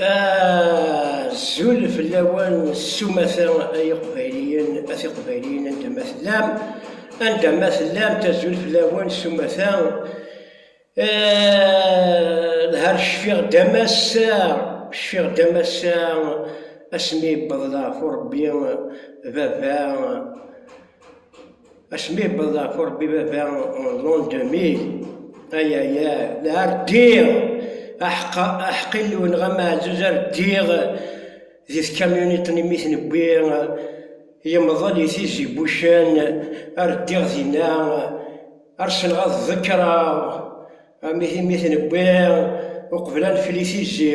Azul fell-awen sumata ay iqbayliyen at iqbayliyen anda ma tellam anda ma tellam tazul fell-awen sumata lhar cfiɣ damassa cfiɣ damassa asmi yewweḍ leɛfu rebbi baba Asmi yewweḍ ɣef urebbi baba l'an 2000, ay ay ay, la rdiɣ, aḥeqqa, aḥeqq Illu neɣ ameɛzuz ar ddiɣ di tkamyuniṭ n imi ten-wwi yemḍel i Tizi Wucen, ar ddiɣ dinna, ar ssneɣ ad ḍekkreɣ, imi ten-wwi uqbel ad nefli tizi.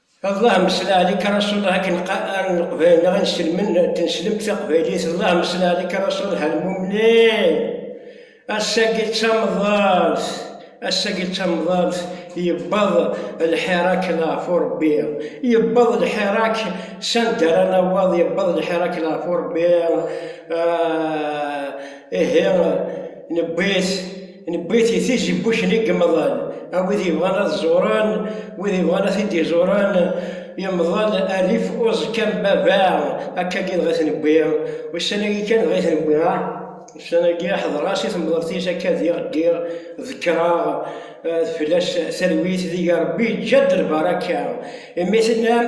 Allah amesla alik a Rasul Allah akken qqaren leqbayel neɣ inselmen n tneslemt taqbaylit Allah amesla alik a Rasul Allah almumnin ass-agi d tamḍart ass-agi d tamḍart yebbaḍ lḥirak leɣef urebbi yebbaḍ lḥirak sanda ara nawaḍ yebbaḍ lḥirak leɣef urebbi ihi newwi-t Newwi-t i tizi n wuccen i yemḍal, a wid yebɣan ad ẓuren, wid yebɣan ad t-id-iẓuren, yemḍal rrif uẓekka n baba, akkagi dɣa i t-newwi, ussan-agi kan dɣa i t-newwi, ah, ussan-agi ḥedreɣ-as i temḍelt-is akka diɣ ddiɣ, ḍekkreɣ, tefla-s talwit deg-i, Rebbi yeǧǧa-d lbaṛaka, imi tennam.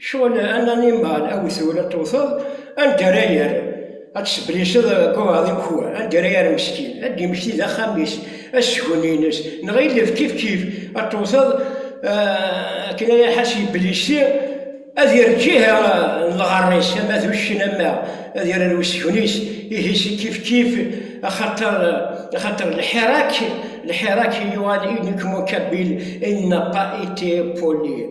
Cɣel an animal a wi twala tewteḍ anda ara yerr ad tesbliseḍ buɛeḍ i ukwa anda ara yerr meskin ad d-yemmekti d axxam-is asgen-ines neɣ ilef kifkif ad tewteḍ akken ara iḥas yeblisi ad yerr ǧiha n lɣerr-is ama d uccen ama ad yerr ar usgen-is ihi si kifkif axaṭer axaṭer lḥirak lḥirak yuɣal in kmukabil in n'a pas été poli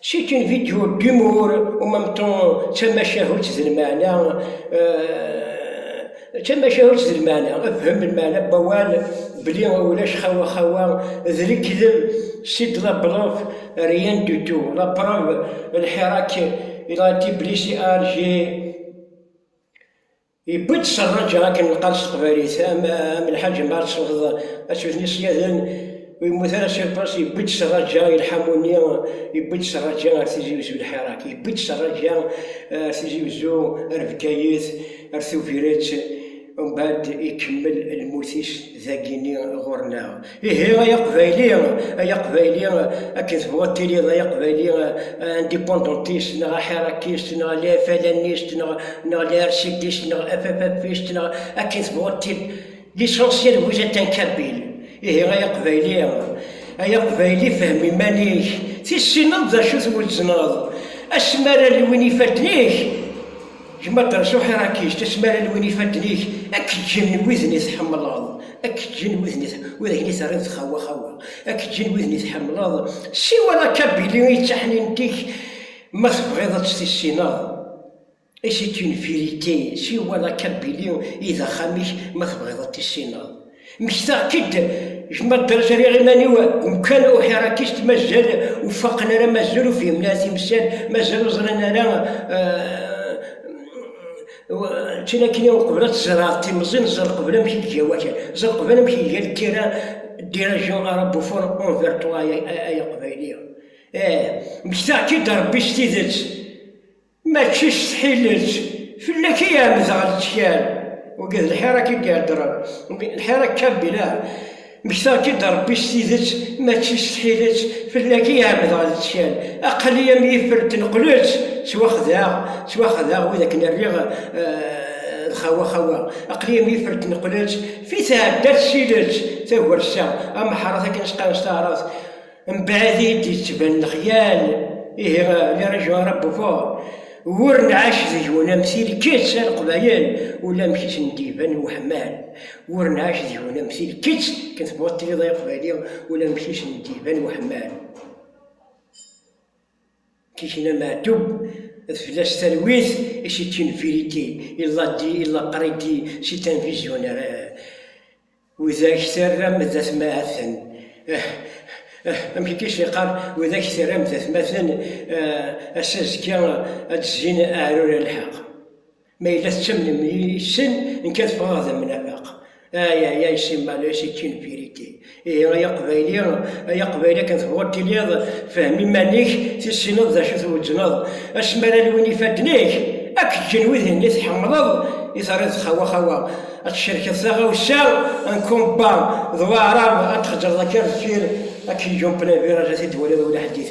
C'est une vidéo d'humour en même temps d tamacahut d lmeɛna d tamacahut d lmeɛna fhem lmeɛna n wawal belli ulac xawa xawa d lekdeb c'est de la bluff rien du tout la preuve lḥirak il a été blessé à Alger Yewwi-d Serraǧa akken neqqar s teqbaylit, am am lḥaǧ ma tesweḍ aswet n iṣyaden ur yemmut ara s iṭṭes, yewwi-d Serraǧa i lḥamu-nni, yewwi-d Serraǧa ar Tizi Uzzu lḥirak, yewwi-d Serraǧa ar Tizi Uzzu, ar Bgayet, ar Tubiret, umbɛed ikemmel lmut-is dagi-nni ɣur-neɣ. Ihi ay aqbayli, ay aqbayli, akken tebɣu ad tiliḍ ay aqbayli, indépendantiste neɣ aḥirakist neɣ lafalanist neɣ neɣ larsidist neɣ afafafist neɣ akken tebɣu ad tiliḍ. L'essentiel vous êtes un kabyle. Ihi ay aqbayli, ay aqbayli fhem iman-ik, tissineḍ d acu twezzneḍ, asmi ara lwin ifadden-ik, Gma Dderrez Uḥirakic, tasmara n win ifadden-ik ad k-ǧǧen widen i tḥemmleḍ, ad k-ǧǧen widen i tḥemmleḍ, ur ak-ni terriḍ txawa xawa, ad k-ǧǧen widen i tḥemmleḍ, siwel a Kabili i taḥnint-ik ma tebɣiḍ ad tt-tissineḍ, et c'est une vérité, siwel a Kabili i d axxam-ik ma tebɣiḍ ad t-tissineḍ. Mmektaɣ-k-id gma dders riɣ iman-iw umkan uḥirakist mazal ur faqen ara mazal ur fhimen ara timsal mazal ur ẓran ara ččan akken i uqbel ad tzerɛeḍ timẓin ẓer qbel amek i tga wakal ẓer qbel amek i tga lkira dirajan arabufun unver ṭwa ay aqbayli eh mmektaɣ-k-id rebbi s tidet Mačči s tḥilet fell-ak i ɛemmdeɣ lettkal, wagi d lḥir akka i d-iheddren, lḥir akka bila, mmektaɣ-k-id a Rebbi s tidet, mačči s tḥilet fell-ak i ɛemmdeɣ lettkal, aql-i am yifer n tneqlet, ttwaxdaɣ, ttwaxdaɣ wid akken rriɣ d xawa xawa, aql-i am yifer n tneqlet, fi tɛedda tessilet, tagrest-a, ameḥṛat akken as-qqaren s taɛṛabt, Mbeɛd i d-yettban lexyal, ihi les régions arabes au fort, wur nɛac deg-wen am tilkett, a Leqbayel, ulamek i sen-d-iban weḥmal, wur nɛac deg-wen am tilkett, akken tebɣuḍ tiliḍ ay Aqbayli, ulamek i sen-d-iban weḥmal. Tikna Meɛtub, d fell-as talwit et c'est une vérité, il l'a dit, il l'a prédit, c'est un visionnaire eh. Widak terram d atmaten eh eh, amek akka i s-yeqqar, widak terram d atmaten eh, ass-a azekka ad d-zzin aɛrur a lḥeq. Ma yella tettamnem yes-sen, nekk ad ffɣeɣ d amnafaq. Ay, ay, ay, c'est malheureux, c'est une vérité. Ihi, ay Aqbayli, ay Aqbayli, akken tebɣuḍ tiliḍ, fhem iman-ik, tissineḍ d acu tweǧneḍ. Asmi ara lwin ifadden-ik, ad k-ǧǧen wid-nni i tḥemmleḍ, i terriḍ xawa xawa. Ad tcerkeḍ taɣawsa n combat d waɛrab, ad txeǧreḍ akka ar deffir, ad k-iǧǧun plein virage, ad t-id-twaliḍ ula ḥedd-it.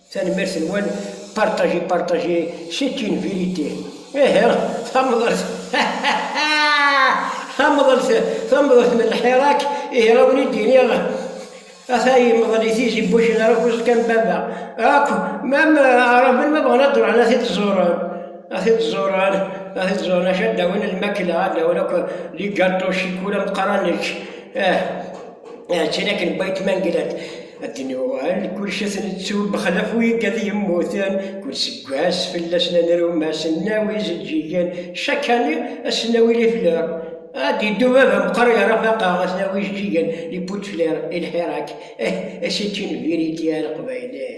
Tanemmirt nwen partager partager c'est une vérité ihi tamḍelt tamḍelt tamḍelt n lḥirak ihi a wen-id iniɣ ata yemḍel i tizi n wuccen ara kuẓ kan baba akk mam araben ma bɣan ad d-ruḥen a t-id-ẓuren a t-id-ẓuren a t-id-ẓuren acu ad d-awin lmakla ad d-awin akk ligaṭu cikula meqqar ad nečč ah ah ččan akken n wayt ma nglan Akken yuɣal, kullec ad t-nettu bexlaf wi gad yemmuten, kull seggas fell-asen ad nrum asennaw izeǧǧigen, chaque année, asennaw i lifleur. Ad d-yeddu baba meqqar yerra faqeɣ asennaw ijeǧǧigen, les pots de fleurs et le herac, eh, et c'est une vérité a leqbayel eh.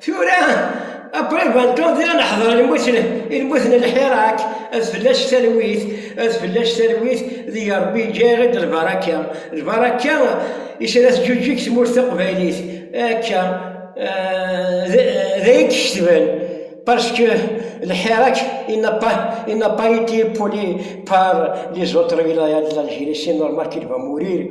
Tura qrib ad dduḍ di leḥder ilmuten ilmuten lḥirak ad fell-as talwit ad fell-as talwit di Rebbi yeǧǧa-yaɣ-id lbaraka lbaraka isra teǧuǧeg tmurt taqbaylit akka d ayen d-ketben parce que lḥirak il n'a pas il n'a pas été poli par les autres wilayat de l'Algérie c'est normal qu'il va mourir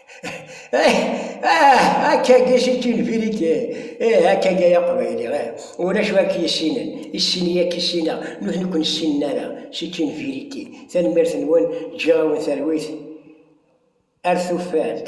Akkagi c'est une vérité. Eh, akkagi ay aqbayli, eh. Ulac wa k-yessinen, issin-iyi ad k-issineɣ, nutni ur ken-ssinen ara. C'est une vérité. Tanemmirt-nwen, ǧǧiɣ-awen talwit ar tuffalt.